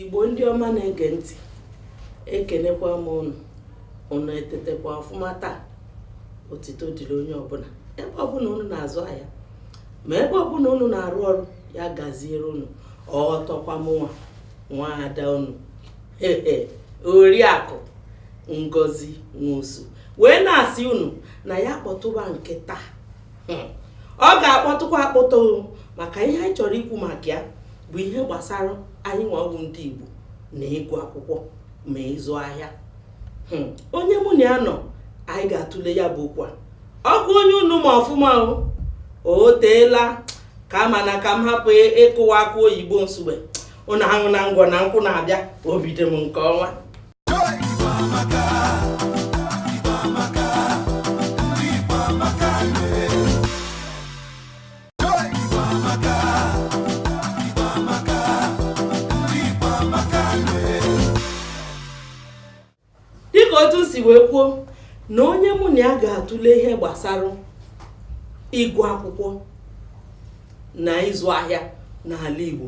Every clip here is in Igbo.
igbo ndị ọma na-ege ntị ekenekwa m ụnụ ụnụ etetekwa ọfụma taa otito dịrị onye ọbụla ebe ọbụla ụnụ na-azụ ahịa ma ebe ọbụla ụnụ na-arụ ọrụ ya gaziere ụnụ ọtọkwa mụnwa nwa ada ụnụ oriakụ ngozi nwosu wee na-asị ụnụ na ya kpọtụba nke taa hmm. ọ ga-akpọtụkwa akpọtụ maka ihe anyị chọrọ ikwu maka ya bụ ihe gbasara anyịnwa wụ ndị Igbo na ịgụ akwụkwọ ma ịzụ ahịa hmm. onye mụ na ya nọ anyị ga-atụle ya bụ okwu a ọ bụ onye unu ma ọfụma o teela aka mana ka m hapụ ịkụwa akụ oyibo nsugbe ụnụ ahụ na ngwọ na nkwụ na-abịa obi dị m nke ọnwa dịka otu si wee kwuo na onye mụ na ya ga-atụle ihe gbasara ịgụ akwụkwọ na ịzụ ahịa n'ala Igbo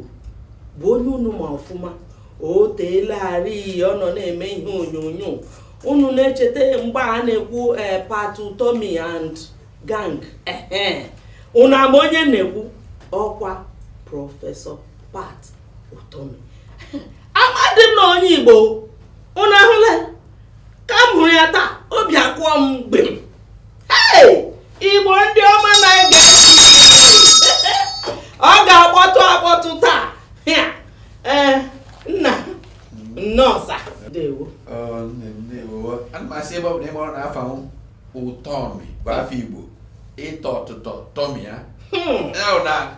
bụ onye unu ma ọfụma o teelarị ọ nọ na-eme ihe onyonyo unu na-echeta mgbe a na-ekwu eh, Pat Utomi and gang ụnụ ama onye m na-ekwu ọkwa prọfesọ Pat Utomi amadị m na ọ onye Igbo ụnụ ahụla ka m hụrụ ya taa obi akụọ m gbim Igbo ndị ọma na-ege ntị ọ ga-akpọtụ akpọtụ taa ee nna nnọọ sa ndewo ana m asị ebe ọ bụ na ị marọ na afa m ụtọmi bụ afa igbo ịtọ ọtụtọ tọmi ya hmm.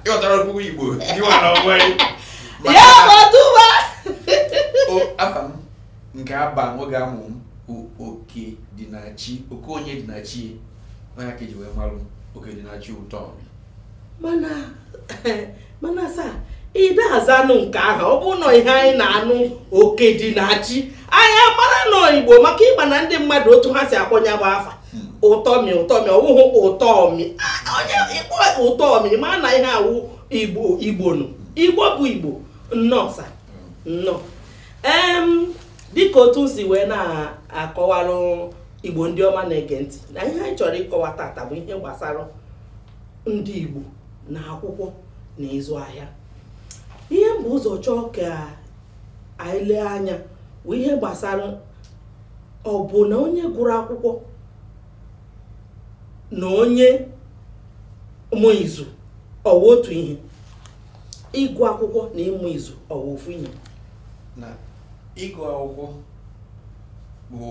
ịghọtara okwu igbo ịwara onwe ya ọtụba afa m nke a ba m oge a mụ m bụ oke dị na chi oke onye dị na chi ọ ya ka eji wee marụ m oke dị na chi ụtọmi mana mana sa ị dị azanụ nke ahụ ọ bụ na ọ ihe anyị na-anụ oke dị na chi anyị amara na ọ igbo maka ị ma na ndị mmadụ otu ha si akpọ ya bụ afa ụtọmi ụtọmi ọ bụghị ụtọmi onye ị kpọ ụtọmi ma na ihe a wụ igbo igbo nụ igbo bụ igbo nnọọ sa nnọọ dịka otu m si wee na-akọwalụ igbo ndị ọma na-ege ntị na ihe anyị chọrọ ịkọwa tata bụ ihe gbasara ndị Igbo na akwụkwọ na ịzụ ahịa ihe m bu ụzọ chọọ ka anyị lee anya bụ ihe gbasara ọ bụ na onye gụrụ akwụkwọ na onye ma izu ọ wụ otu ihe ịgụ akwụkwọ na ịma izu ọ wụ ofu ihe na ịgụ akwụkwọ bụ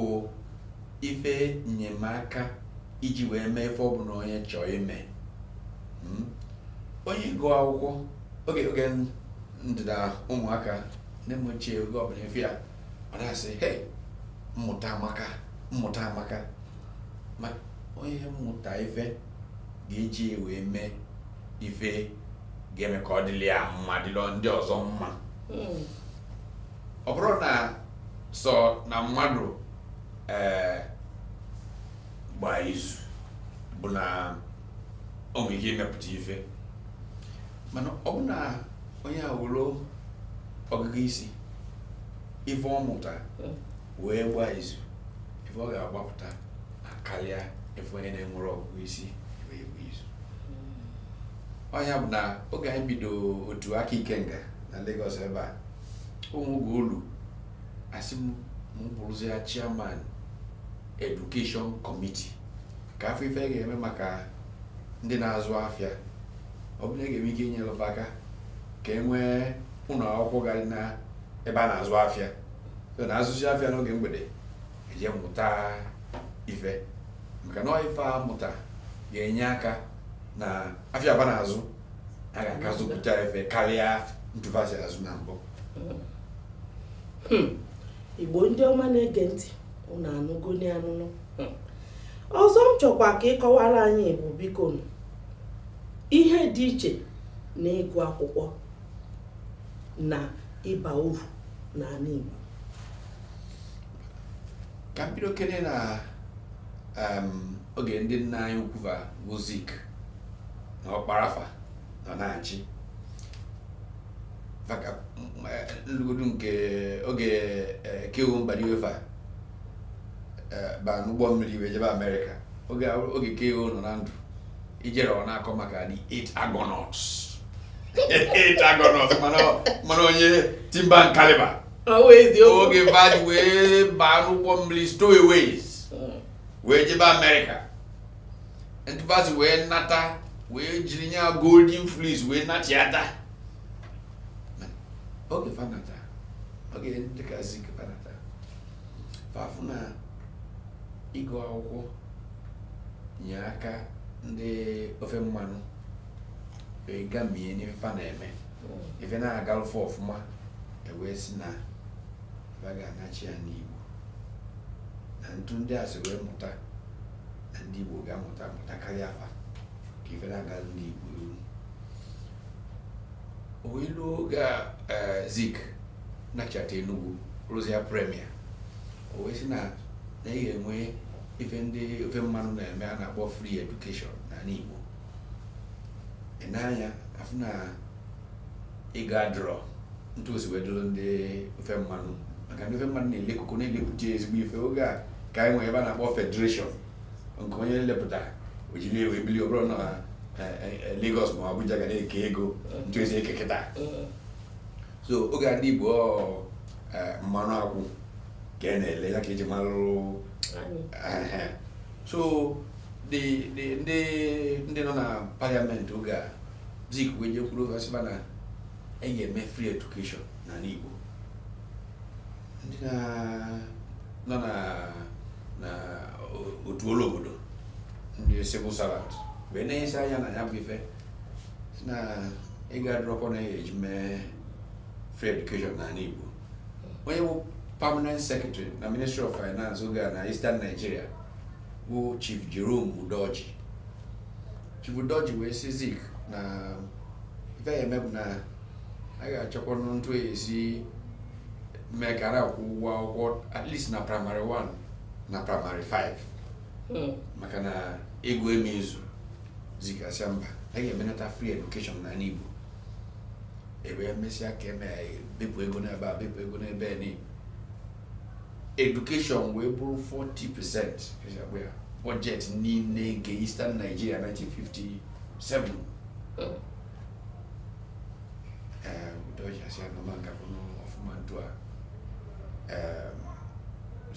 ife nnyemaka iji wee mee ife ọbụla onye chọọ ime hmm? onye gụọ akwụkwọ oge oge m dị na ụmụaka nne m ochie oge ọbụla ị fụ ya ọ na-asị hei mmụta amaka mmụta amaka ma onye mụta ife ga-eji wee mee ife ga-eme ka ọ dịlị ya mma dịlị ndị ọzọ mma hmm. ọ bụrọ na sọ na mmadụ ee gbaa izu bụ na o nwere ike imepụta ife mana ọ bụ na onye nwelu ọgụgụ isi ife ọ mụtara wee gbaa izu ife ọ ga-agbapụta akarịa ife onye na-enwerọ ọgụgụ isi wee gbaa izu ọ ya bụ na oge anyị bido otu Aka Ikenga na Lagos ebe a o nwee oge o lu a sị m m bụrụzia chairman education committee ka a fụ ife a ga-eme maka ndị na-azụ afịa ọ bụ na a ga-enwe ike inyere fa aka ka e nwee ụlọ akwụkwọ ga-adị na ebe a na-azụ afịa so na a zụsịa afịa n'oge mgbede e jee mụta ife maka na ọ ife a mụta ga-enye aka na afịa fa na-azụ a ga-aka azụpụta ife karịa etu fa si azụ na mbụ hmm. igbo ndị ọma na-ege ntị unu anụgo n'anụnụ hmm. ọzọ m chọkwa ka ị kọwara anyị bụ biko ihe dị iche na ịgụ akwụkwọ na ịba uru n'ala igbo ka m bidokene na oge ndị nna anyị ukwu bụ Zik na Ọkpara fa nọ na-achị ma ka m lugodu nke oge K.O. Mbadiwe fa ba n'ụgbọ mmiri wee jebe Amerịka oge K.O. nọ na ndụ i jere ọ na-akọ maka the eight Argonauts eight Argonauts mana onye timber and caliber oge fa ji wee baa n'ụgbọ mmiri stowaways wee jebe Amerịka ntu fa si wee nata wee jiri nya golden fleece wee nachiata oge fa nata oge ndị ka zik fa nata fa fụ na ịgụ akwụkwọ nye aka ndị ofe mmanụ wee gamie n'ife fa na-eme ife na-agalụ fa ọfụma e wee sị na fa ga-anachi ya n'igbo na ntu ndị a si wee mụta na ndị Igbo ga-amụta amụta karịa fa ka ife na-aga ndị Igbo iru wee luo oge a eh, Zik nachata Enugu rụzie premier o wee sị na na e ga-enwe ife ndị ofe mmanụ na-eme a na-akpọ free education n'ala Igbo e nee anya afụ na ego adịrọ ntu o si wee dụrụ ndị ofe mmanụ maka ndị ofe mmanụ na-ele koko na-elepụta ezigbo ife oge a ka anyị nwere ife a na-akpọ federation nke onye lepụta o jiri wee bili ọ bụrọ na eh, eh, eh, Lagos ma Abuja ga na-eke ego ntu e si eke kịta so oge a ndị Igbo ọ, eh, mmanụ akwụ ka a na-ele ya ka e ji malụ anyị. Ehe. so the the ndị ndị nọ na parliament oge a Zik wee jekwuru fa sị fa na e ga-eme free education n'ala Igbo ndị na- nọ na na o- otu ọlụ obodo ndị civil servant wee nenyesịa anya na ya bụ ife sị na ego adịrọkwanụ a ya-eji mee free education n'ala Igbo onye bụ permanent secretary na ministry of finance oge a na eastern nigeria bụ chief jerome udoji chief udoji wee sị zik na ife a ya-eme bụ na a ga-achọkwa ntu a ya-esi mee ka a na-akwụ ụgwọ akwụkwọ at least na primary 1 na primary 5 hmm. maka na ego ama-ezu zik asị mba a ga-emenata free education n'ala Igbo e wee mesịa ka e me bepụ ego n'ebe a bepụ ego n'ebe a education wee bụrụ 40 percent budget niile nke Eastern Nigeria 1957 udoji asị na ọ ma-agakwanụ ọfụma ntu a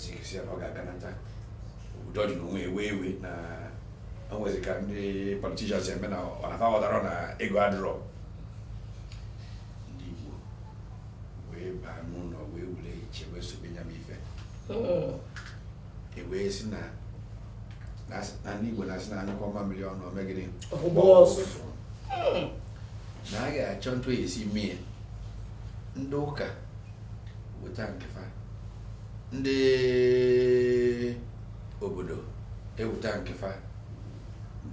zik sị na ọ ga-aganata udoji n'onwe ewe iwe na o nwezi ka ndị politicians eme na ọ na fa aghọtarọ na ego adịrọ ndị Igbo wee baa n'ụlọ wee were uche wee sobe ya bụ ife hmm. e wee sị na na ndị Igbo na-asị na a nyụkọọ mamịrị ọnụ o mee gịnị na a ga-achọ ntu a ya-esi mee ndị ụka weta nke fa ndị obodo eweta nke fa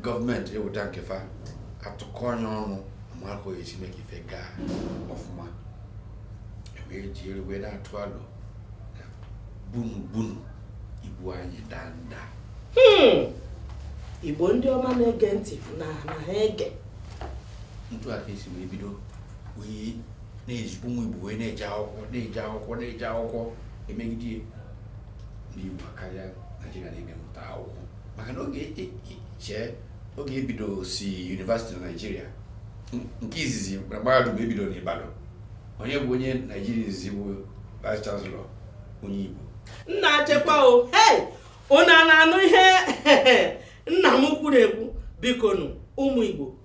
gọọmenti eweta nke fa atụkọnye ọnụ ama ka esi mee ka ife gaa ọfụma ewee jiri wee na-atụ alo na bunu bunu ibu anyị danda hmm. igbo ndị ọma na-ege ntị na na ha ege ntu aka esi wee bido wee na-eji ụmụ igbo wee na-eje akwụkwọ na-eje akwụkwọ emegide ndị igbo karịa naijiria na mmụta akwụkwọ maka na oge chee oge ebidosi yunivasiti na naijiria nke izizi na mahadum ebido na Ibadan onye bụ onye naijiria izizi bụ vice chancellor onye Igbo nna chekwa o hei unu na-anụ ihe nna m kwuru ekwu bikonu ụmụ Igbo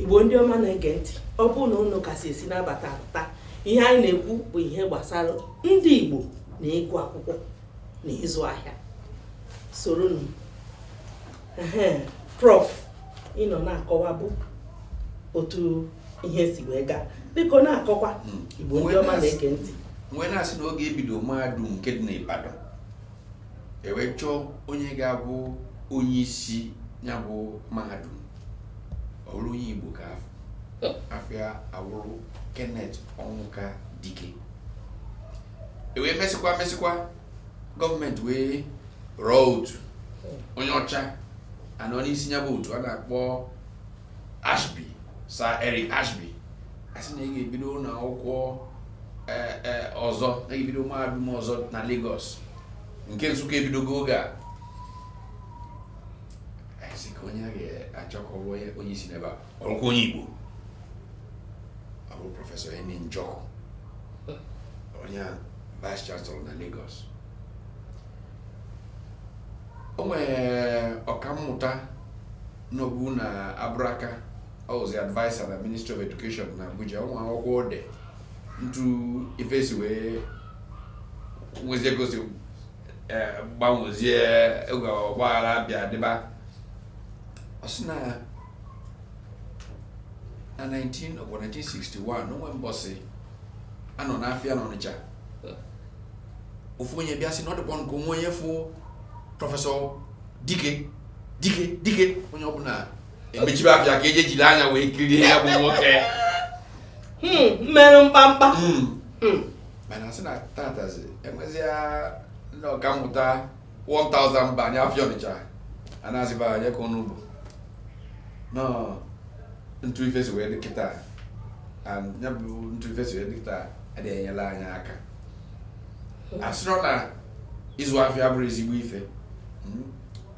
igbo ndị ọma na-ege ntị ọ bụrụ na unu ka si esi na-abata abata ihe anyị na-ekwu bụ ihe gbasara ndị igbo na ịgụ akwụkwọ na ịzụ ahịa soronụ prof ị nọ na-akọwa bụ otu ihe si wee gaa biko na-akọkwa hmm. igbo ndị ọma na-ege ntị m wee na-asị na oge ebido mahadum nke dị n'Ibadan ewee chọọ onye ga-abụ onye isi ya bụ mahadum ọ bụrụ onye Igbo ka a fụ afa ya awụrụ Kenneth Ọnwụka Dike ewee mesịkwa mesịkwa gọọmenti wee rọọ otu onye ọcha anọ n'isi ya bụ otu a na-akpọ Ashby Sir Eric Ashby asị na a ga-ebido ụlọ akwụkwọ e, e, ọzọ na ebido mahadum ọzọ na Lagos nke Nsụka ebidogo oge a asị ka onye a ga-achọ ka ọ bụ onye isi n'ebe a ọ wụrụkwa onye Igbo ọ bụ prọfesọ Eni Njoku onye vice chancellor na Lagos o nwere ọkammụta nọbu na Abraka ọ wụzi adviser na ministry of education na abuja o nwe akwụkwọ o de ntu ife si wee nwezie gosi eh, gbanwezie oge ọgbaghara bịa dịba ọ sị na na 1961 na o nwe mbọsị anọ n'afịa n'ọnịcha ofu onye bịa sị na ọ dịkwa ka o nwe onye fụ prọfesọ dike dike dike onye ọbụla emechibe afịa ka eje jiri anya wee kirie ya bụ nwoke hmm, meru mkpamkpa hmm. Hmm. mana sị na tatazi enwezia ndị ọkammụta 1000 baa nya afịa ọnịcha a na-azụba nya ka ọ nọbu ntu ife si wee dị kịta ya bụ ntu ife si wee dị kịta adịghị enyela anyị aka asịrọ na ịzụ afịa abụrọ ezigbo ife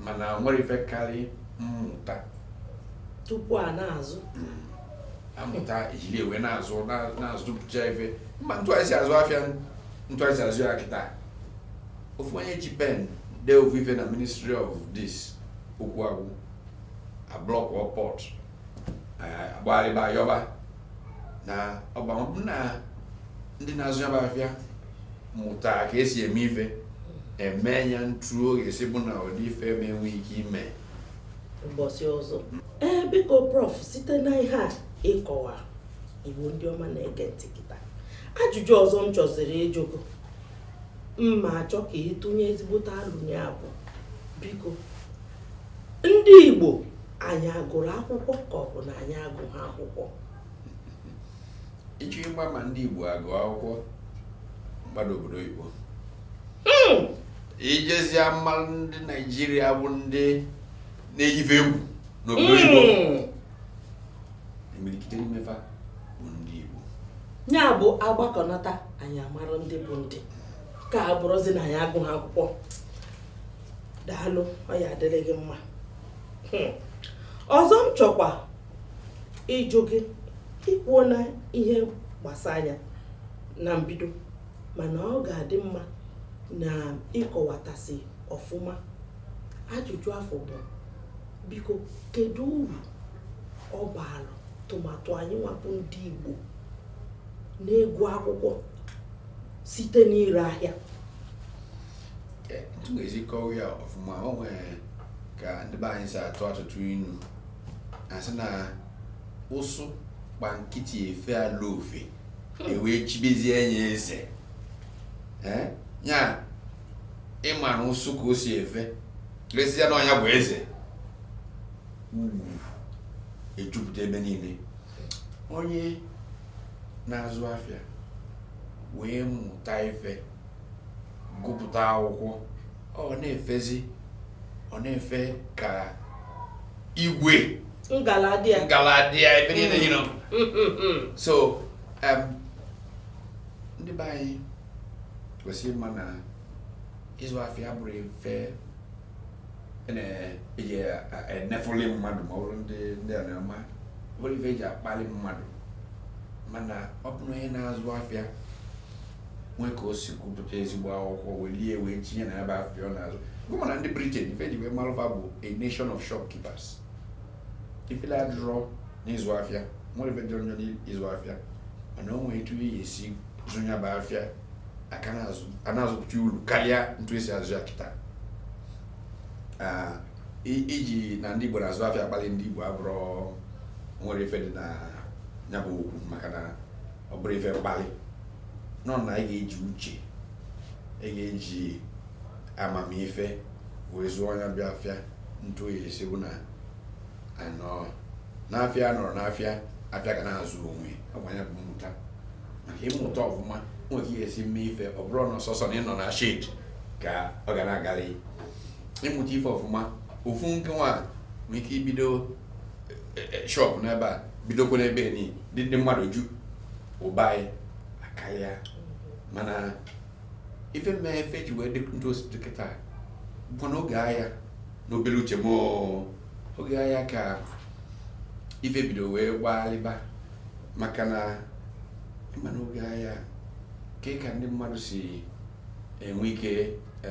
mana o nwere ife karị mmụta tupu a na-azụ hmm. amụta ejiri wee na-azụ na-azụpụcha ife ma ntu esi azụ afịa ntu esi azụ ya kịta ofu onye ji pen dee ofu ife na ministry of this okwu agwụ a blọkụọ port agbalịba yọba na ọgbamọbụ na ndị na-azụ ya bụ afịa mụta ka esi eme ife eme ya ntu ọ ga-esi bụ na ụdị ife a ma enwe ike ime mbọsị ọzọ ee biko prof site na ihe a ị kọwa Igbo ndị ọma na-ege ntị kịta ajụjụ ọzọ m chọziri ịjụ gị m ma achọ ka ị tụnye ezigbote alo na ya bụ biko ndị Igbo anyị agụrụ akwụkwọ ka ọ bụ na anyị agụghị akwụkwọ ị chọọ ịgba ama ndị Igbo agụ akwụkwọ gbada obodo oyibo hmm. i jezie amarụ ndị Naijiria bụ ndị na-eyi ife egwu n'obodo oyibo hmm. imirikiti n'ime fa bụ ndị Igbo ya bụ agbakọnata anyị amarụ ndị bụ ndị ka a bụrụzi na anyị agụghị akwụkwọ daalụ ọ ya-adịrị gị mma hmm. ọzọ m chọkwa ịjụ gị i kwuona ihe gbasa ya na mbido mana ọ ga-adị mma na ị kọwatasị ọfụma ajụjụ afọ bụ biko kedu uru ọ baara tụmadụ anyị nwa bụ ndị Igbo n'ịgụ akwụkwọ site n'ire ahịa Eh, ntu m ga-esi kọwa ya ọfụma o nwere ka ndị be anyị si atụ atụtụ inu asị na ụsụ gba nkịtị efe alụ ofe hmm. ewee chibezie enye eze eh, ya ịma na ụsụ ka o si efe lesịa na ọnụ ya bụ eze ejupụta ebe niile onye na-azụ afịa wee mụta ife gụpụta akwụkwọ ọ na-efezi ọ na-efe ka igwe ngaladịa ngaladịa ebe niile you know mm, mm, mm, so um, ndị be anyị kwesịrị ịma na ịzụ afịa abụrọ ife a na-eji enefuli mmadụ ma ọ bụrụ ndị ndị a na-ama abụrọ ife eji akpali mmadụ mana ọ bụrụ onye na-azụ afịa nwee ka o si gụpụta ezigbo akwụkwọ welie wee tinye na ya bụ afịa ọ na-azụ gụ ma na ndị Britain ife e ji wee malụ fa bụ a nation of shopkeepers ifele adịrọ n'ịzụ afịa nwerọ ife dị njọ n'ịzụ afịa mana o nwee etu a ya-esi zụ ya bụ afịa a ka na-azụpụta uru karịa ntu e si azụ ya kịta iji na ndị igbo na-azụ afịa akpali ndị igbo abụrọ nwerọ ife dị na ya bụ okwu maka na ọ bụrọ ife mkpali nọ na ị ga-eji uche ị ga-eji amamife wee zụọ nya bụ afịa ntu a ya-esi bụ na a nọ n'afịa nọrọ n'afịa afịa ga na-azụ onwe ọkwa nya bụ mmụta maka ị mụta ọfụma nwee ka ị ya-esi mee ife ọ bụrọ na ọ sọsọ na ịnọ na shed ka ọ ga na-agarị ị mụta ife ọfụma ofu nke nwa nwere ike ibido e, e, shop n'ebe a bidokwa n'ebe nị dị ndị mmadụ ju ụba anyị akarịa mana ife mee ife ji wee dị ntu o si dị kịta bụ n'oge aya n'obere uche m oge aya ka ife bido wee gbaalịba maka na ị ma n'oge aya ka ka ndị mmadụ si enwe ike e,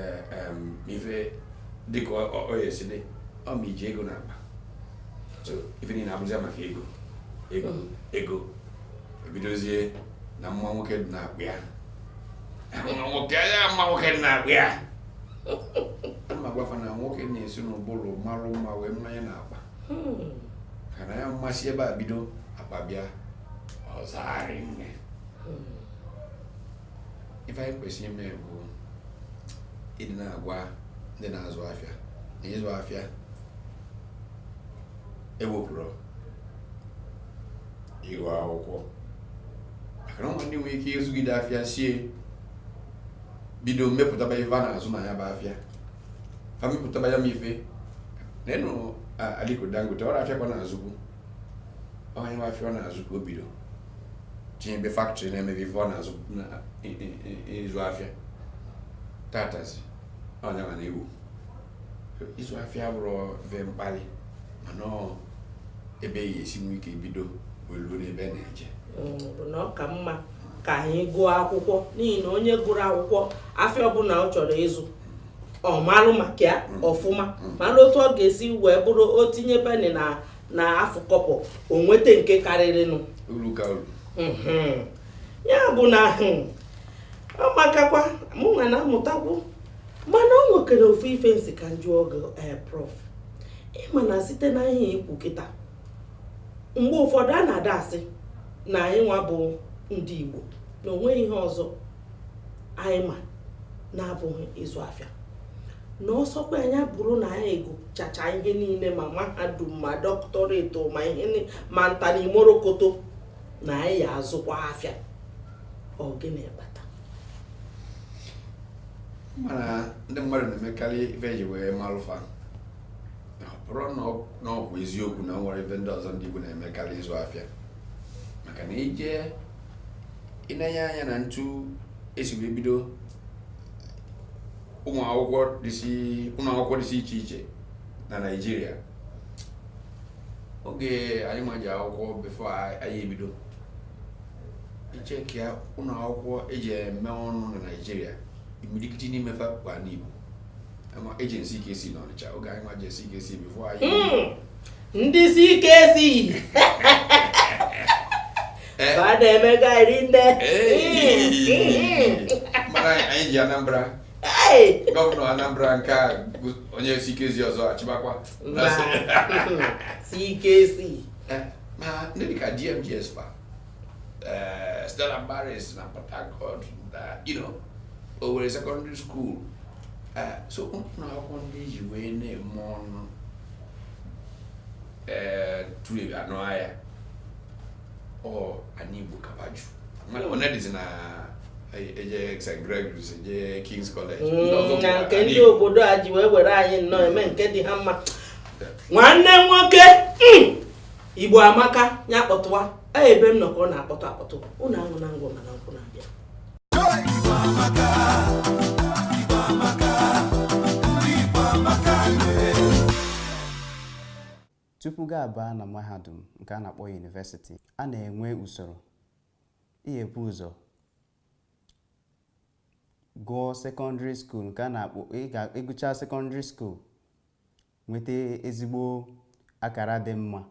ife dịka ọ ya-esi dị ọ ma i ji ego n'akpa so ife niile abụzi maka ego ego hmm. ego ebidozie na mma nwoke dị n'akpa ya mma nwoke ya mma nwoke dị n'akpa ya adị m agwa fa na nwoke na-esi n'ụbụrụ marụ mma wee maa nya n'akpa hmm. ka na ya masịa ebe a bido akpa bịa ọ zaa rinne hmm. ife anyị kwesịrị ime bụ ịdị na-agwa ndị na-azụ afịa na ịzụ afịa ewepụrọ ịgụ akwụkwọ maka na ndị nwere ike ịzụgide afịa sie bido mepụtaba ife a na-azụ na ya bụ afịa ha mepụtaba ya m ife na ị nụ Aliko Dangote ọrọ afịa ka ọ na-azụbu ọ nya nwa afịa ọ na-azụ ka o bido tinyebe factory na-emebe ife ọ na-azụ ịzụ afịa tatazi onye ma na iwu ịzụ afịa abụrọ ive mkpali mana ebe a ya-esi nwee ike bido wee ruo n'ebe a na-eje mm, bụ na ọ ka mma ka anyị gụọ akwụkwọ n'ihi na onye gụrụ akwụkwọ afịa ọbụla ọ chọrọ ịzụ ọ malụ maka ya mm. ọfụma mm. malụ otu ọ ga-esi wee bụrụ o tinye penny na afụ kọbọ o nweta nke karịrịnụ mm-hmm. ya bụ na hmm, ọ makakwa mụ nwa na-amụtakwu mana o nwekere ofu ife m sị ka m jụọ gị eh, prof ị ma na site na ihe i kwu kịta mgbe ụfọdụ a na-ada asị na anyị nwa bụ ndị Igbo na o nweghị ihe ọzọ anyị ma na-abụghị ịzụ afịa na ọ sọkwanụ ya bụrụ na anyị agụchachaa ihe niile ma mahadum ma doctorate ma ihe ma nta na imo rokoto na anyị ya-azụkwa afịa ọ gịnị kpata mana ndị mmadụ na-emekarị ife e ji wee malụ fa bụrụ na ọ bụ eziokwu na e nwere ife ndị ọzọ ndị Igbo na-eme karị ịzụ afịa maka na i je inenye anya na etu e si wee bido ụnọ akwụkwọ dịsị iche iche na Naịjirịa oge anyị nwa je akwụkwọ before anyị ebido ị chekịa ụlọ akwụkwọ e ji eme ọnụ na Naịjirịa imirikiti n'ime fa kpa n'Igbo e je na CKC n'Ọnịcha oge anyị nwa je CKC before anyị hmm. ndị CKC eh. ba na-emega rinne mana anyị ji Anambra gọvanọ Anambra nke a onye CKC ọzọ achịbakwa CKC eh, ma ndị dịka DMGS fa eh, Stella Maris na Port Harcourt na you know, Owerri secondary school Eh, so ụnọ akwụkwọ ndị e ji wee na-eme ọnụ eh, throughout Naịjirịa ọ anị Igbo ka ọ baju mmadụ one dịzi na-eje St. Gregory's eje King's College ndị ọzọ Mm, bụ na nke ndị obodo a ji wee were anyị nnọọ eme nke dị ha mma nwanne m nwoke mm, Igbo amaka ya kpọtụwa ebe m nọ ka ọ na-akpọtụ akpọtụ ụnụ aṅụna ngwọ mana nkwụ na-abịa tupu gị abaa na mahadum nke a na-akpọ yunivesiti a na-enwe usoro ihe e bu ụzọ gụọ sekọndịrị skuul nke a na-akpọ ịgụcha sekọndịrị skuul nweta ezigbo akara dị mma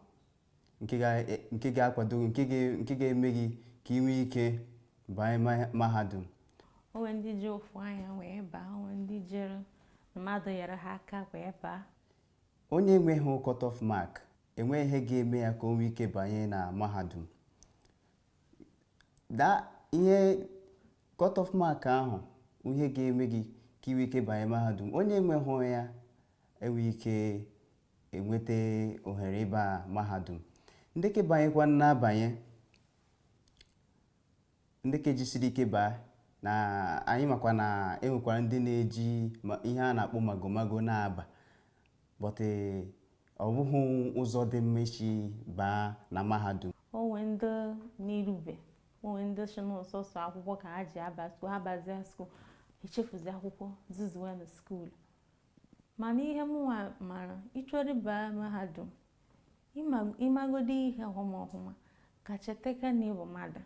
nke ga- e- nke ga-akwado gị, nke ga- nke ga-eme gị ka ị nwee ike banye ma- mahadum o nwe ndị ji ofu anya wee baa o nwe ndị jere mmadụ nyere ha aka wee baa onye enweghị cut-off mark enweghị ihe ga-eme ya ka o nwee ike banye na mahadum da ihe cut-off mark ahụ ihe ga-eme gị ka ị nwee ike banye mahadum onye enweghị ya enwe ike enweta ohere ịba mahadum ndị ka banyekwa na-abanye ndị ka jisiri ike baa na anyị makwa na enwekwara ndị na-eji ma- ihe a na-akpọ magomago na-aba but ọ bụghị ụzọ dị mma isi baa na mahadum o nwe ndị na-erube o nwe ndị sị na ọ sọsọ akwụkwọ ka ha ji aba skuul ha bazie skuul echefuzi akwụkwọ zuzuwe na skuul Mana ihe mụnwa mara, ị chọrọ ịba mahadum, ị magodi ihe ọhụma ọhụma, ka chetekwa na ị bụ mmadụ,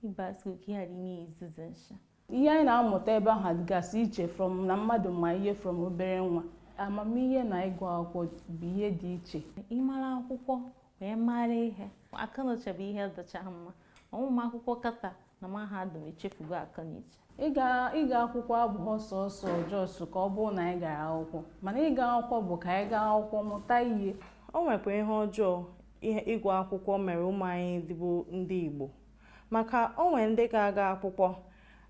ịba skuul ka ị ghara ịna-ezuzu nshi. Ihe anyị na-amụta ebe ahụ dịgasị iche from na mmadụ ma ihe from obere nwa. Amamihe na ịgụ akwụkwọ bụ ihe dị iche. Ị mara akwụkwọ, wee mara ihe akọnuche bụ ihe dịcha mma ụmụ akwụkwọ kịta na mahadum echefugo akọnuche ịga ịga akwụkwọ abụghị sọọsọ just ka ọ bụrụ na anyị gara akwụkwọ mana ịga akwụkwọ bụ ka anyị gaa akwụkwọ mụta ihe o nwekwa ihe ọjọọ ihe ịgụ akwụkwọ mere ụmụ anyị ndị bụ ndị igbo maka o nwere ndị ga-aga akwụkwọ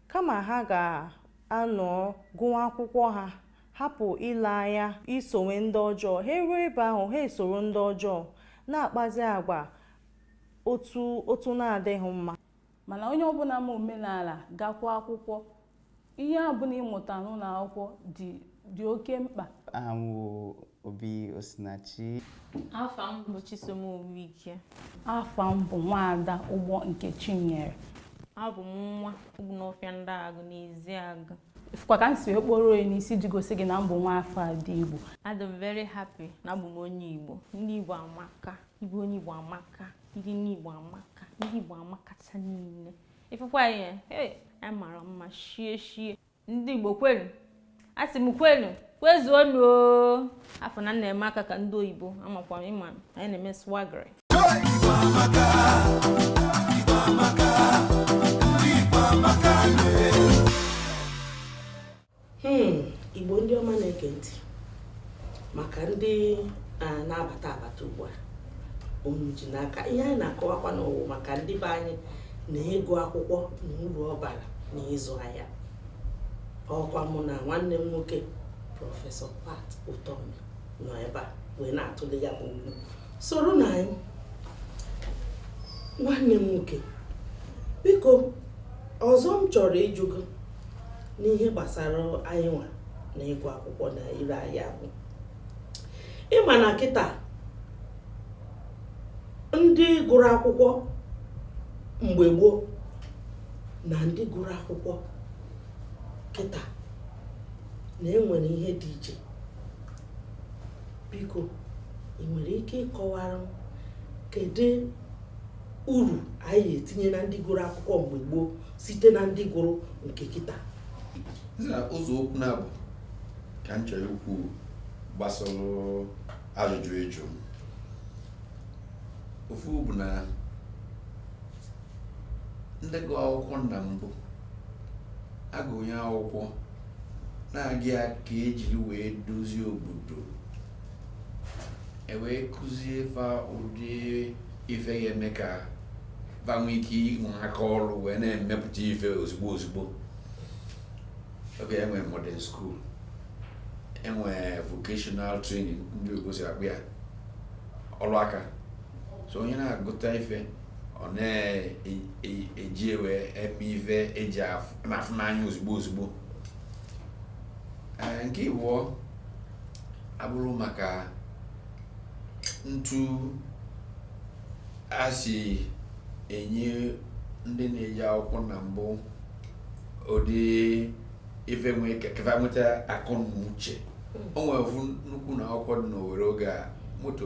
kama ha ga-anọ gụwa akwụkwọ ha hapụ ile anya esowe ndị ọjọọ ha eruo ebe ahụ ha esoro ndị ọjọọ na-akpazi agwa otu otu na-adịghị mma mana onye ọbụla ma omenala gakwa akwụkwọ ihe ọbụla ị mụta n'ụlọ akwụkwọ dị dị oke mkpa aha m bụ obi osinachi afa m bụ chisom ike afa m bụ nwaada ụgbọ nkechinyere abụ m nwa obinofia ndịagụ n'ezeagụ fụkwa ka m si wee kporo onye n'isi ji gosi gị na m bụ nwa afọ ndị Igbo adị m very happy na abụ m onye Igbo ndị Igbo amaka ịbụ onye Igbo amaka ndị nne Igbo amaka ndị Igbo amakacha niile ịfụkwa ihe ee anyị mara mma shie shie ndị Igbo kwelu asị m kwelu kwezuonu o afọ na m na-eme aka ka ndị oyibo amakwa ị ma na anyị na-eme swaggery ji n'aka ihe anyị na-akọwakwanụ wụ maka ndị be anyị na ịgụ akwụkwọ na uru ọ bara na ịzụ ahịa ọkwa mụ na nwanne m nwoke prọfesọ Pat Utomi nọ ebe a wee na-atụle ya bụ okwu soronụ anyị nwanne m nwoke biko ọzọ m chọrọ ịjụ gị n'ihe gbasara anyị nwa na ịgụ akwụkwọ na ire ahịa bụ ị ma na kịta ndị gụrụ akwụkwọ mgbe gboo na ndị gụrụ akwụkwọ kịta na enwere ihe dị iche biko ị nwere ike ịkọwara m kedu uru anyị etinye na ndị gụrụ akwụkwọ mgbe gboo site na ndị gụrụ nke kịta ụzọ okwu naabụ ka m chọrọ ikwu gbasara ajụjụ ị jụ m ofu bụ na ndị gụ akwụkwọ na mbụ agụnye akwụkwọ na-aga ya ka ejiri wee dozie obodo ewee kụzie fa ụdị ife ga-eme ka fa nwee ike inwe aka ọrụ wee na-emepụta ife ozugbo ozugbo oge a e nwee modern school enwee vocational training ndị akụzi akpụ ya ọlụ aka so onye na-agụta ife ọ na-eji wee eme ife eji afụ n'anya ozugbo ozugbo nke ịbụọ abụrụ maka ntu a si enye ndị na-eje akwụkwọ na mbụ ụdị ife mee ka fa nweta akọ na uche o nwere ofu nnukwu ụnọ akwụkwọ dị n'owere oge a motto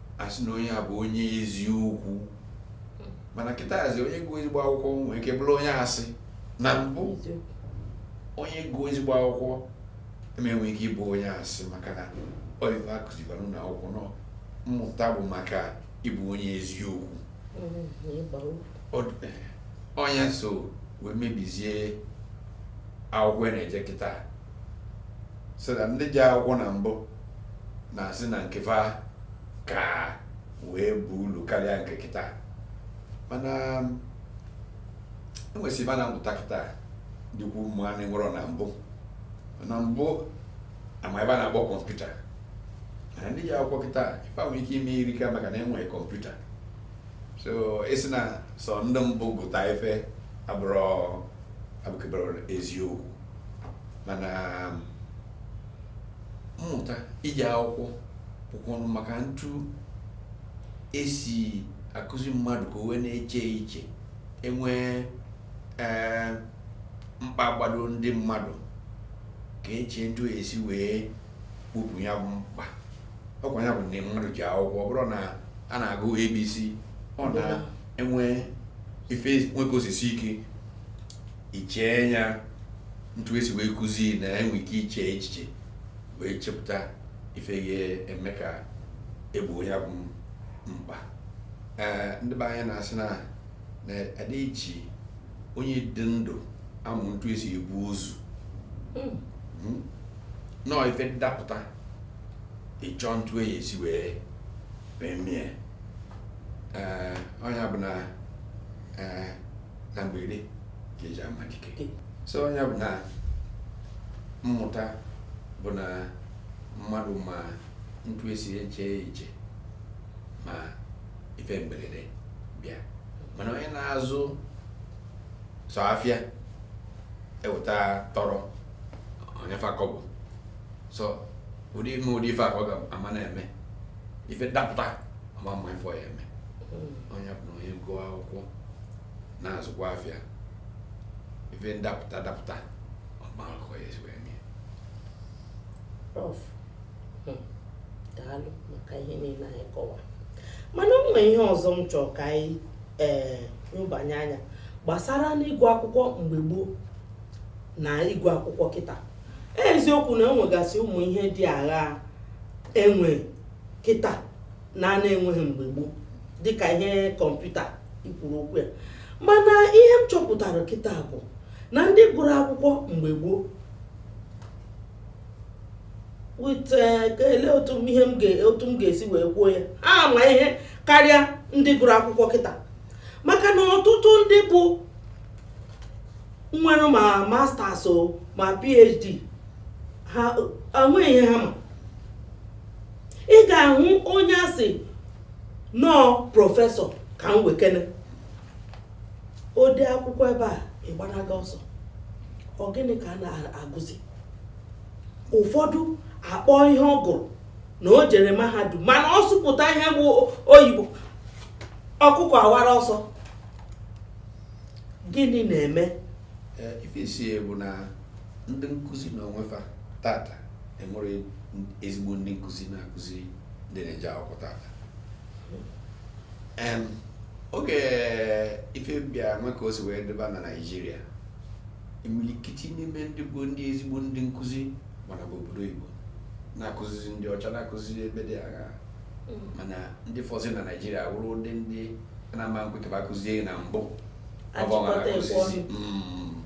a sị na onye a bụ onye eziokwu mana kịtazi onye gụọ ezigbo akwụkwọ nwee ike bụrụ onye asị na mbụ onye gụọ ezigbo akwụkwọ ama enwe ike ịbụ onye asị maka na ọ ive a kụzibara na akwụkwọ na mmụta bụ maka ịbụ onye eziokwu ọ nya so wee mebizie akwụkwọ na-eje kịta so that ndị je akwụkwọ na mbụ na-asị na nke fa ka wee bụ ulu karịa nke kịta mana e nwesị ife a na-amụta kịta dịkwu mma na enwerọ na mbụ na mbụ ama ife a na-akpọ kọmputa na ndị je akwụkwọ kịta ife nwere ike ime erika maka na e nwe kọmputa so ị sị na sọ ndị mbụ gụta ife abụkeberọ eziokwu mana mmụta ije akwụkwọ bụkwanụ maka ntu esi akụzi mmadụ ka o wee na-eche iche enwee ee mkpa gbado ndị mmadụ ka e chee ntu esi wee kpopụ ya bụ mkpa ọkwa ya bụ na mmadụ ji akwụkwọ ọ bụrụ na a na-agụ abc ọ na-enwe ife nwe ike osisi ike ichee ya ntu esi wee kụzi na enwe ike iche echiche wee chepụta ife ga-eme ka egboo ya bụ mkpa ee ndị be anyị na-asị na na ada eji onye dị ndụ amụ ntu esi ebu ozu hmm. Hmm. nọọ ife dapụta ị chọọ ntu ị ya-esi wee mee mie ee ọ nya bụ na ee na mberede ka eji ama dike so nya bụ na mmụta bụ na mmadụ ma ntu esi eche iche ma ife mberede bịa mana onye na-azụ sọ afịa eweta tọrọ o nye fa kọbọ sọ ụdị ime ụdị ife a ka ọ ga-ama na-eme ife ndapụta ọ ma ama ife ọ ya-eme hmm. ọ nya bụ na onye gụọ akwụkwọ na-azụkwa afịa ife ndapụta dapụta ọ ma aka ọ ya-esi wee mee prof hmm. daalụ maka ihe niile anyị kọwa mana o nwere ihe ọzọ m chọrọ ka anyị ee eh, nyobanye anya gbasara n'ịgụ akwụkwọ mgbe gboo na ịgụ akwụkwọ kịta eziokwu na enwegasị ụmụ ihe dị agha enwe kịta na a na-enweghị mgbe gboo dịka ihe kọmputa i kwuru okwu ya mana ihe m chọpụtara kịta bụ na ndị gụrụ akwụkwọ mgbe gboo wit eh, ele otu ihe m otu m ga-esi wee kwuo ya ha ma ihe karịa ndị gụrụ akwụkwọ kịta maka na ọtụtụ ndị bụ nwere ma masters ma phd ha enweghị ihe ha ma ị ga-ahụ onye a sị na ọ prọfesọ ka m wekene o dee akwụkwọ ebe a ị gbanaga ọsọ ọ gịnị ka a na-agụzi ụfọdụ akpọọ ihe ọ gụrụ na o jere mahadum mana ọ sụpụta ihe bụ oyibo ọkụkọ awara ọsọ gịnị na-eme ife isi bụ na ndị nkụzi na onwefa tata enwerọ ezigbo ndị nkụzi na-akụzi ndị na-eje akwụkwọ tata oge ife bịa nwe ka o si wee dịba na naijiria imilikiti n'ime ndị bụ ndị ezigbo ndị nkụzi gbanaba obodo oyibo na-akụzizi ndị ọcha na-akụzi ebe dị agha mana ndị fọzi na naijiria wụrụ ndị ndị na-ama ekwe ka ba kụzie na mbụ hmm.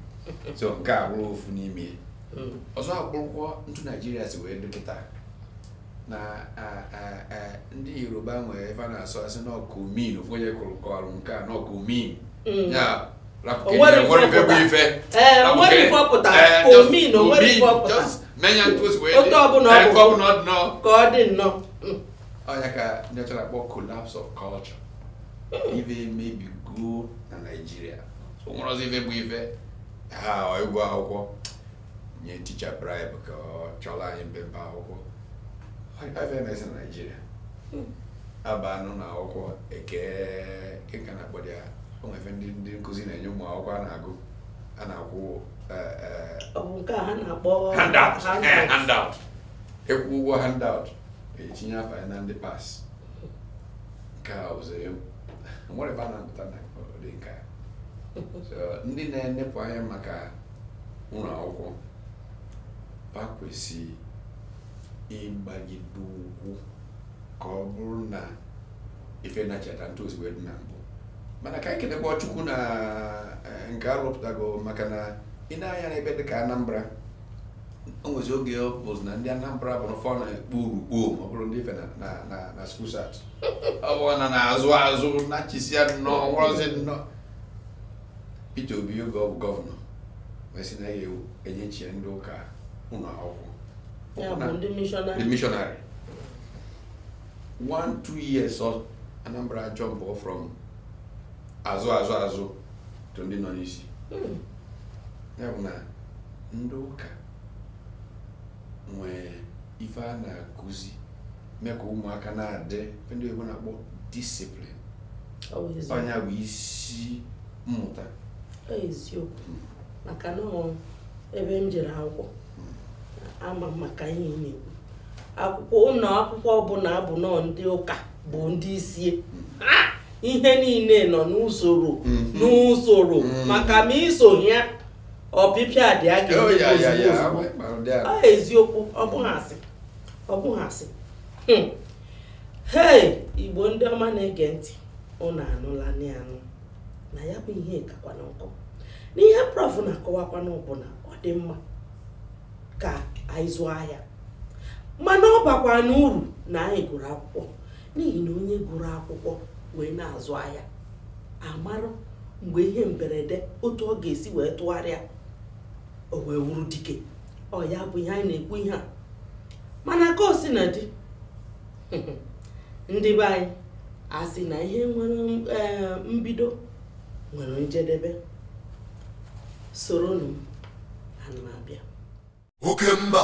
so nke a bụrụ ofu n'ime hmm. ọzọ abụrụkwọ ntụ naijiria si wee dị kịta na ndị yoruba nwere ebe a na-asụ asị n'ọkụ min ofu onye kụrụ kọrụ nke a n'ọkụ min hmm. ya otu ọbụla ọ bụ ka ọ dị nnọọ ọ nya ka ndị ọcha na-akpọ collapse of culture ife emebigo na naijiria o nwerọzi ife bụ ife ị gụọ akwụkwọ nye ticha bribe ka ọ chọrọ anyị mpempe akwụkwọ ife emezi na naijiria a banụ na akwụkwọ kee ka a na-akpọdị ya o nwefe ndị ndị nkụzi na-enye ụmụ akwụkwọ a na-agụ a na-akwụ eh, eh, Ọ bụ nke a ha na-akpọ handout eh, handout. handout ị kwụọ ụgwọ handout e tinye afa ya na ndị pass nke a ụzọ ya nwere ebe a na-amụta na ụdị nke a So, ndị na-enepụ anya maka ụlọ akwụkwọ ha kwesịrị ịgbagide ụkwụ ka ọ bụrụ na ife nachiata ntụ o si wee dị na mbụ mana ka anyị kelekwa Chukwu na eh, nke arụpụtago maka na ị nee anya n'ebe dị ka Anambra o nwezi oge ọ bụ na ndị Anambra bụ n'ụfọ na-ekpo urukpo ma ọ bụrụ ndị ife na na na na school cert ọ bụ a na-ana azụ azụ nachisia nnọọ nwerọzi nnọọ Peter Obi oge ọ bụ gọvanọ wee sị na ya enyechie ndị ụka ụlọ akwụkwọ Ya bụ ndị mishọnarị. ndị mishọnarị one two years so Anambra ajumpụọ from azụ azụ azụ to ndị nọ n'isi Mm. ya bụ na ndị ụka nwee ife a na-akụzi mee ka ụmụaka na-adị ife ndị oyibo na-akpọ disiplin ọ nya bụ isi mmụta eziokwu maka na ebe m jere akwụkwọ ama m maka ihe ị na-ekwu akwụkwọ ụlọ akwụkwọ ọbụla bụ nnọọ ndị ụka bụ ndị isi ihe niile nọ n'usoro mm-hmm. n'usoro mm-hmm. maka ma i sohie ọpịpịa dị ya kwa oh, eziokwu ọ bụghị asị ọ bụghị asị hmm. hei igbo ndị ọma na-ege ntị ụnụ anụla anụ na ya bụ ihe kakwanụ nkọ n'ihe prof na-akọwakwanụ bụ na ọ dị mma ka anyị zụọ ahịa mana ọ bakwanụ uru na anyị gụrụ akwụkwọ n'ihi na onye gụrụ akwụkwọ wee na-azụ ahịa amarụ mgbe ihe mberede otu ọ ga-esi wee tụgharịa o wee wụrụ dike ọ ya bụ ihe anyị na-ekwu ihe a mana ka o sina dị ndị be anyị a sị na ihe nwere eh, mbido nwere njedebe soronụ ana m abịa oke mba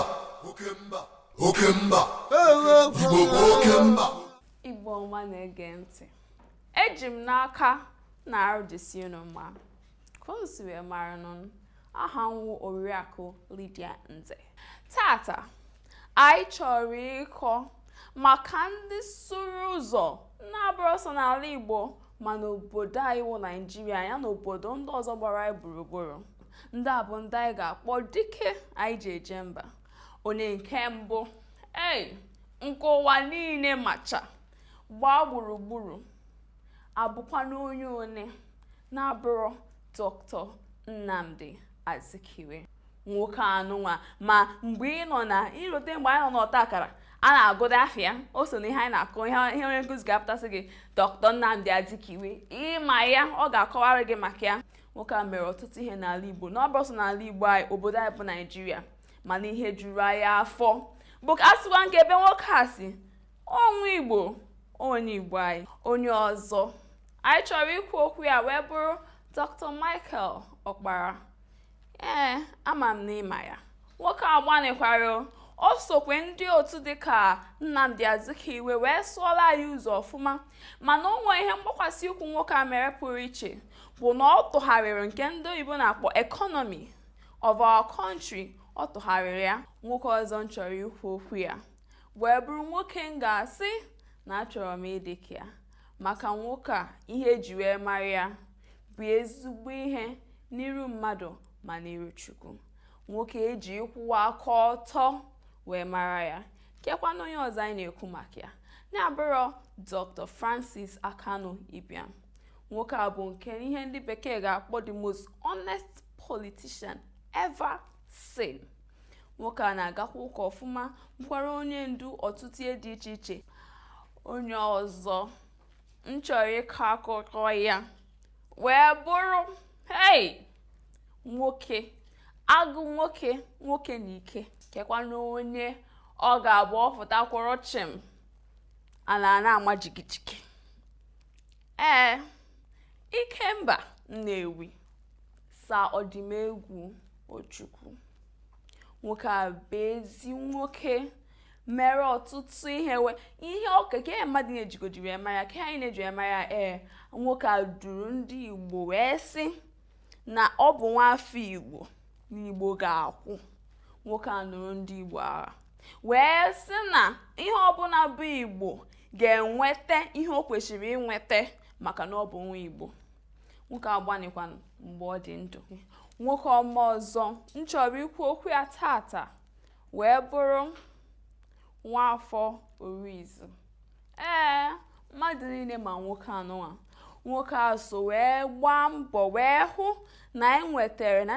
oke mba oke mba igbo bụ oke mba igbo ọma na-ege ntị eji m n'aka na arụ dịsị unu mma Ka unu si wee mara nụ m, aha m wụ Oriakụ Lydia Nze. Taata, anyị chọrọ ịkọ maka ndị sụrụ ụzọ na-abụrọ sọ n'ala Igbo ma n'obodo anyị wụ Naịjirịa ya na obodo ndị ọzọ gbara anyị gburugburu. Ndị a bụ ndị anyị ga-akpọ dike anyị ji eje mba. Onye nke mbụ, ee, nke ụwa niile macha gbaa gburugburu. abụkwanụ onye one na-abụrọ Dr. Nnamdi Azikiwe nwoke a nụnwa ma mgbe ị nọ na irote mgbe anyị nọ n'ọta akara a na-agụda afa ya o so na ihe anyị na-agụ ihe onye nkụzi ga-apụta sị gị Dr. Nnamdi Azikiwe ị ma ya ọ ga-akọwara gị maka ya nwoke a mere ọtụtụ ihe n'ala Igbo na ọ bụrọ sọ n'ala Igbo anyị obodo anyị bụ Naijiria mana ihe juru anyị afọ bụ ka a sịkwa nke ebe nwoke a si ọ nwa igbo onye igbo anyị onye ọzọ anyị chọrọ ikwu okwu ya wee bụrụ dr michael ọkpara ee ama m na ị ma ya nwoke a gbanịkwara o sokwa ndị otu dịka nnamdi azikiwe wee sụọla anyị ụzọ ọfụma mana o nwee ihe mgbakwasị ụkwụ nwoke a mere pụrụ iche bụ na ọ tụgharịrị nke ndị oyibo na-akpọ economy of our country ọ tụgharịrị ya nwoke ọzọ m chọrọ ikwu okwu ya wee bụrụ nwoke m ga-asị na achọrọ m ịdị ka ya maka nwoke a ihe eji wee mara ya bụ ezigbo ihe n'iru mmadụ ma n'iru Chukwu nwoke eji ịkwụwa aka ọtọ wee mara ya kekwanụ onye ọzọ anyị na-ekwu maka ya na-abụrọ Dr. Francis Akanu Ibiam nwoke a bụ nke ihe ndị bekee ga-akpọ the most honest politician ever seen. nwoke a na-agakwa ụka ọfụma bụkwara onye ndu ọtụtụ ihe dị iche iche onye ọzọ m chọrọ ịkọ akụkọ ya wee bụrụ hei nwoke agụ nwoke nwoke na ike kekwanụ onye ọ ga-abụ ọ fụta kwụrụ chịm ana ana-ama jigijigi ee ikemba nnewi sa Odumegwu Ojukwu nwoke a bụ ezi nwoke mere ọtụtụ ihe wee ihe ọka ka ihe mmadụ na-ejigodiri ama ya ka anyị na-eji ama ya ee nwoke a duru ndị Igbo wee sị na ọ bụ nwafọ Igbo na Igbo ga-akwụ nwoke a nụrụ ndị Igbo agha wee sị na ihe ọbụna bụ Igbo ga-enweta ihe o kwesịrị inweta maka na ọ bụ nwa Igbo nwoke a gbanịkwanụ mgbe ọ dị ndụ nwoke ọma ọzọ m chọrọ ikwu okwu ya tata wee bụrụ nwafọ orizu ee mmadụ niile ma nwoke anụwa nwoke a so wee gbaa mbọ wee hụ na anyị nwetara na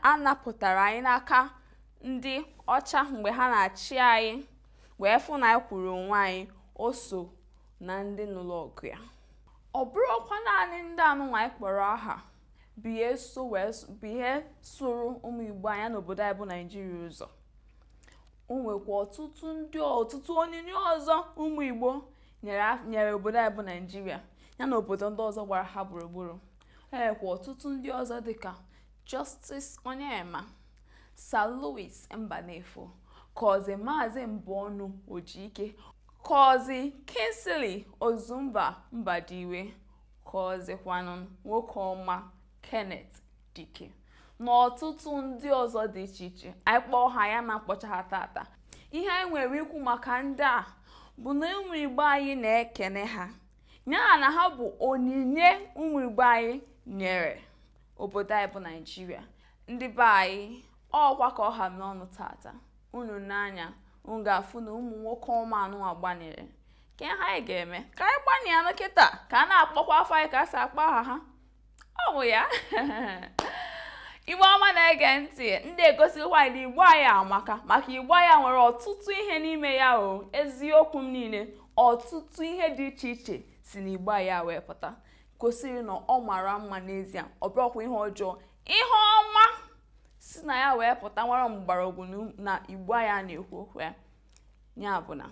a napụtara anyị n'aka ndị ọcha mgbe ha na-achị anyị wee fụ na anyị kwụụrụ onwe anyị o so na ndị nụrụ ọgụ ya ọ bụrọkwa naanị ndị anụnwa anyị kpọrọ aha bụ ihe so wee s- bụ ihe sụrụ ụmụ igbo anyị n'obodo anyị bụ naijiria ụzọ o nwekwa ọtụtụ ndị ọtụtụ onyinye ọzọ ụmụ igbo nyere af- nyere obodo anyị bụ naijiria ya na obodo ndị ọzọ gbara ha gburugburu e nwekwa ọtụtụ ndị ọzọ dịka justice onyeama sir louis mbanefo kọzi maazị mbonu ojike Kọzi Kingsley Ozumba Mbadiwe kọzikwanụ nwoke ọma Kenneth Dike na ọtụtụ ndị ọzọ dị iche iche anyị kpọọ ha anyị ama akpọcha ha tata ihe anyị nwere ikwu maka ndị a bụ na ụmụ Igbo anyị na-ekene ha ya na ha bụ onyinye ụmụ Igbo anyị nyere obodo anyị bụ Naijiria ndị be anyị ọkwa ka ọ ha m n'ọnụ tata unu nee anya unu ga-afụ na ụmụ nwoke ọma anụwa gbanịrị ke ihe anyị ga-eme ka anyị gbanịanụ kịta ka a na-akpọkwu afa anyị ka e si akpọ aha ha ọ bụ ya igbo ọma na-ege ntị ndị a egosikwa anyị na igbo anyị amaka maka igbo anyị nwere ọtụtụ ihe n'ime ya o eziokwu m niile ọtụtụ ihe dị iche iche si na igbo anyị wee pụta gosiri na ọ mara mma n'ezie ọ bụrọkwa ihe ọjọọ ihe ọma si na ya wee pụta nwere mgbọrọgwụ na igbo anyị a na-ekwu okwu ya ya bụ na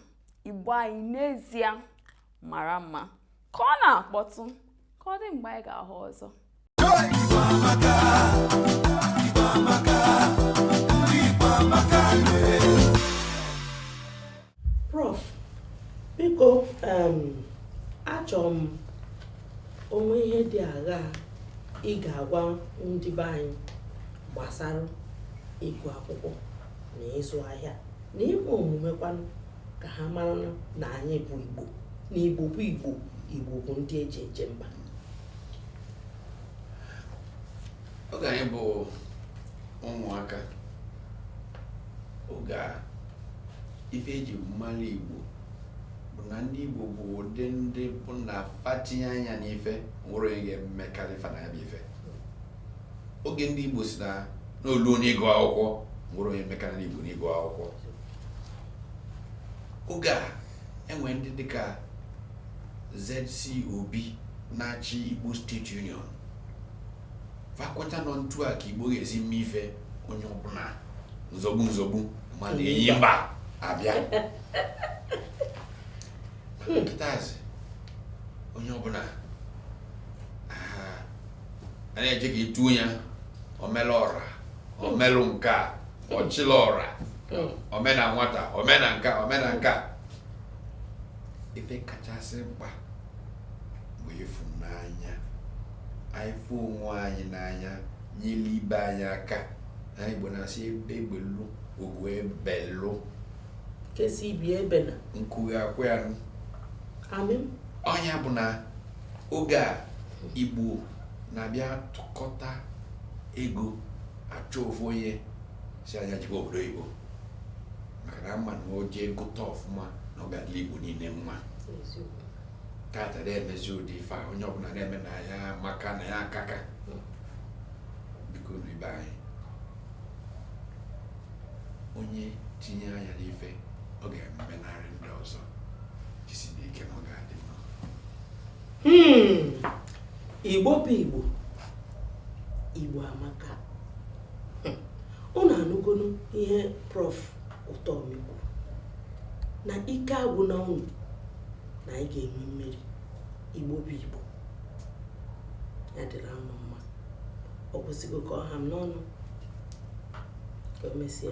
igbo anyị n'ezie mara mma ka ọ na-akpọtụ ka ọ dị mgbe anyị ga-ahụ ọzọ Prof, biko um, achọrọ m o nwee ihe dị aghaa ị ga-agwa ndị be anyị gbasara ịgụ akwụkwọ na ịzụ ahịa na ime omume kwanụ ka ha mara na anyị bụ Igbo na Igbo bụ Igbo Igbo bụ ndị eji eje mba oge anyị bụ ụmụaka oge a ife eji malụ igbo bụ na ndị igbo bụ ụdị ndị bụ na fa tinye anya n'ife o nwerọ onye ga-emekarị fa na ya bụ ife oge ndị igbo sị na o luo n'ịgụ akwụkwọ o nwerọ onye mekarị igbo n'ịgụ akwụkwọ oge a enwere ndị dịka ZC Obi na-achị Igbo State Union va kweta na etu a ka igbo ga-esi mee ife onye ọbụla nzọgbu nzọgbu mana enyi mba abịa kịtazi onye ọbụla a na-eje ka e tuo ya omelọra omelụ nke a ọchịlị ọra omena nwata omena nka omena nka ife kachasị mkpa bụ ịfụnanya anyị fụ onwe anyị n'anya nyere ibe anyị aka na igbo na-asị egbe belu ugo ebelu nke sị ibe ya ebena nku akwaa ya nụ amen ọ nya bụ na oge a igbo na-abịa tụkọta ego achọ ofu onye sị nya jekwa obodo oyibo maka na ama na o jee gụta ọfụma na ọ ga-adịlị igbo niile mma taata anarọ emezi ụdị ife a onye ọbụla na-eme na ya maka na ya akaka biko ndị be anyị onye tinye anya n'ife ọ ga-emenarị ndị ọzọ jisinụ ike na ọ ga-adị mma hmm. igbo bụ igbo igbo amaka unu anụgonu ihe prof Utomi kwuru na ike agwụna unu na anyị ga-enwe mmeri igbo bụ igbo ya dịrị anyị mma ọ kwụsịgo ka ọ ha m n'ọnụ ka o mesie